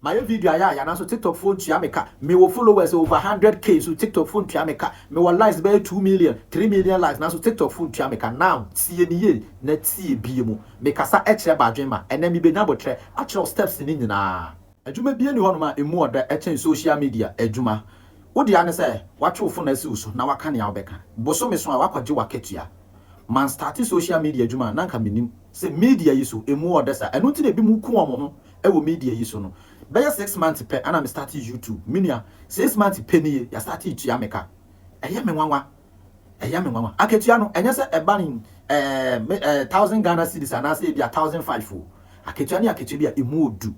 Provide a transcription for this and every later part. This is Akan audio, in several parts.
Mayɛ video ayɛ ayɛ nanso tiktok foɔ ntua me ka Mewɔ followers over 100k nso tiktok foɔ ntua me ka Mewɔ likes bɛyɛ two million, three million likes nanso tiktok foɔ ntua me ka Now tie me yie na tie bie mu Mekasa kyerɛ badwen ma ɛnɛ mebɛnya botrɛ akyerɛ wo steps no nyinaa Adwuma bie nni hɔnom a ɛmu ɔdɛ kyɛn social media adwuma Wo dea ne sɛ woatwe wo fon asi wo so na woaka nea wobɛka Bosome so a woakɔgye w'akatua Man starte social media adwuma a na anka mennim sɛ media yi so ɛmu ɔdɛ saa Ɛno nti na ebinom ku wɔn ho ɛwɔ media yi so no bɛyɛ six months pɛ ana me starte YouTube me nua six months pɛ nie ya starte tua me ka ɛyɛ me nwanwa ɛyɛ me nwanwa akatua no ɛnyɛ sɛ ɛba ne ɛɛ ɛɛ thousand Ghana cedis anaasɛ ebi a thousand five o akatua no yɛ akatua bi a emu odu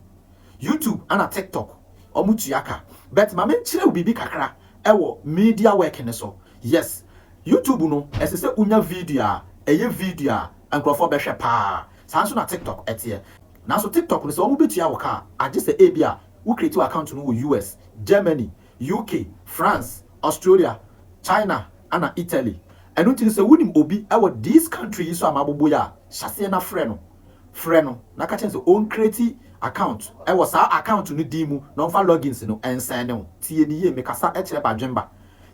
YouTube ana TikTok ɔmo tua ka but ma me nkyerɛ wo biribi kakra ɛwɔ media work no so yes YouTube no ɛsɛ sɛ wonya video a ɛyɛ video a nkorɔfoɔ bɛhwɛ paa saa nso na TikTok ɛteɛ. Nanso TikTok no, sɛ wɔbetua wo ka a, agye sɛ ebia wo create w'account no wɔ US, Germany, UK, France, Australia, China ɛna Italy. Ɛno nti no sɛ wonim obi wɔ these country yi so a mabobɔ yi a, hyɛ aseɛ na frɛ no. Frɛ no na ka kyerɛ no sɛ ɔn create account wɔ saa account no din mu na ɔmfa logins no nsɛne wo. Tie me yie, mekasa kyerɛ badwemba.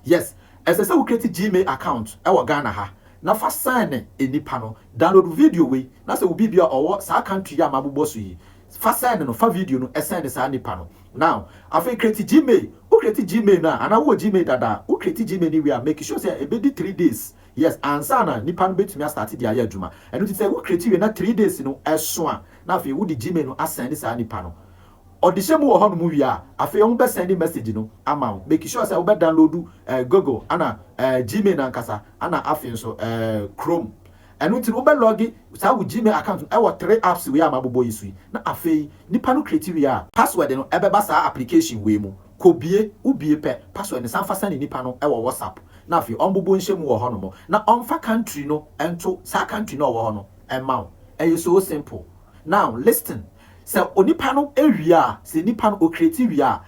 Yes, ɛsɛ sɛ wo create Gmail account wɔ Ghana ha na fa sɛne nnipa no Download video wei na sɛ wo biibi a ɔwɔ saa country yi a mabobɔ so yi fa send no fa video no send saa nipa no now afei create gmail wo create gmail no a anaa wowɔ gmail dada a wo create gmail no wie a make sure sɛ ɛbɛdi three days yes ansa na nipa no bɛtumi a start de ayɛ adwuma ɛno nti sɛ wo create wie na three days no ɛso a na afei wode gmail no a send saa nipa no Ɔdehyɛ mu wɔ hɔnom wie a, afei ɔmo bɛ sɛnde message no ama wo. Make sure sɛ wo bɛ download eh, Google ɛna eh, Gmail ankasa ɛna afei nso eh, Chrome. Ɛno nti no wo bɛ logge saa wo Gmail account no ɛwɔ three apps wei a mabobɔ yi so yi. Na afei nipa no create wie a, password no ɛbɛba saa application wei mu, kɔ bue, wo bue pɛ, password no san fa sɛne nipa no ɛwɔ WhatsApp na afei ɔmbobo nhyɛ mu wɔ hɔnom na ɔmfa country no ɛnto saa country no a ɔwɔ hɔ no ɛma wo. Ɛyɛ so simple. Now listen. Sɛ onipa no wie a, sɛ nipa no ɔcreate wie a,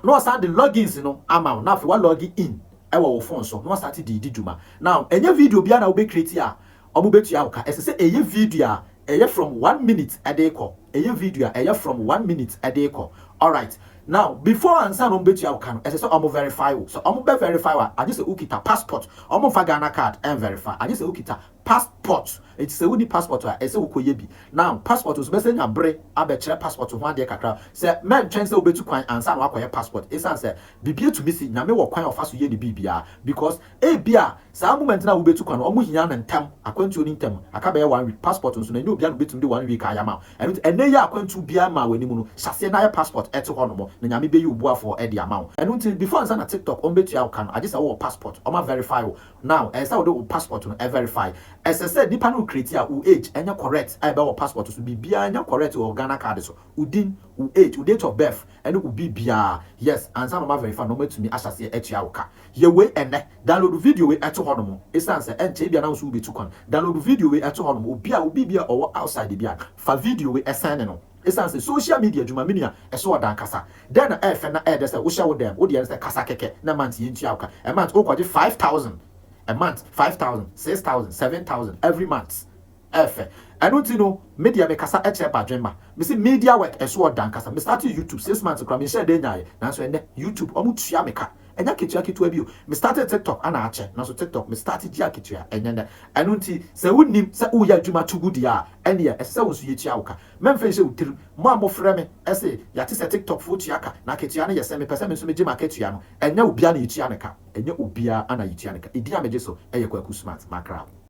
na ɔsan de logins no ama wo na afei wa log in wɔ wo phone so na wasate de redi dwuma. Now ɛnyɛ video biara na wobɛ create a wɔbɛtua wo ka, ɛsɛ sɛ ɛyɛ video a ɛyɛ from one minute de rekɔ, ɛyɛ video a ɛyɛ from one minute de rekɔ, alright. Now before ansa na wɔbɛtua wo ka no, ɛsɛ sɛ wɔn verify wo, sɛ wɔn bɛ verify wo a, agye sɛ wokita passport, wɔn mfa Ghana card nverify, agye sɛ wokita Passport, Enti sɛ wonni passport a, ɛsɛ sɛ wokɔyɛ bi. Now, passport nso, bɛsan anya bere abɛkyerɛ passport ho adeɛ kakra. Sɛ mɛntwɛn sɛ wobɛtu kwan ansa na woakɔyɛ passport, ɛsiane sɛ biribi tumi si, Nyame wɔ kwan a ɔfa so yɛ ne biribiara. Because ebia saa moment no a wobɛtu kwan no, wɔhia no ntɛm, akwantuo no ntɛm, aka bɛyɛ one week. Passport nso no, ɛnyɛ obiara na ɔbɛtumi de one week ayɛ ama wo. Ɛno nti, ɛnnɛ yi a akwantuo biara mmaa w'anim no, hyɛ aseɛ na yɛ passport te hɔ nom, na Nyame bɛyi wo boafoɔ de ama wo. Ɛno nti, before ansa na TikTok wɔbɛtua wo ka no, agye sɛ wowɔ passport, wɔaverify wo, Now ɛsɛ sɛ wode wo passport no verify, ɛsɛ sɛ nipa no recreate a wo age ɛnyɛ correct a ɛbɛwɔ passport so, biribiara nyɛ correct wɔ Ghana card so, wo din, wo age, wo date of birth ɛne wo biribiara, yes, ansa na wɔn a verify no wɔn atumi ahyɛ aseɛ atua wo ka. Yɛ wei ɛnnɛ, download video wei ɛto hɔ nom, ɛsiane sɛ ɛnkyɛ ebia na wo nso wo bɛtu kwan, download video wei ɛto hɔ nom, obi a wo biribi a ɔwɔ outside biara fa video wei send no. Esiane sɛ social media adwuma mini a, ɛso ɔda ankasa. Dɛn na ɛyɛ fɛ na ɛyɛ dɛ sɛ wohyɛ wo dan mu? Wo deɛ ne sɛ kasa kɛkɛ na a month yɛntua wo ka. A month wokɔgye five thousand a month, five thousand, six thousand, seven thousand every month. Ɛyɛ fɛ. Ɛno nti no me deɛ mekasa kyerɛ Badwenma. Mese media work ɛso ɔda ankasa. Me startee YouTube six months koraa menhyɛɛ da nyaaeɛ. Nanso ɛnnɛ YouTube wɔtua me ka. Ɛnyɛ akatua ketewa bio. Me startee tiktok ana akyɛ nanso tiktok me start gye akatua ɛnyɛ nnɛ. Ɛno nti sɛ wo nnim sɛ wo yɛ adwuma to gu deɛ a ɛneɛ ɛsɛ sɛ wo nso yɛ tua wo ka. Mɛmfa nhyɛ wo tirim mo a mo frɛ me se yɛate sɛ tiktok foɔ tua ka na akatua no yɛ sɛn me pɛ sɛ me nso me gye m'akatua no ɛnyɛ obiara na yɛ tua no ka. Ɛnyɛ obiara ana yɛ tua no ka. Edin a me gye so yɛ Kwaku Smart, Makrab.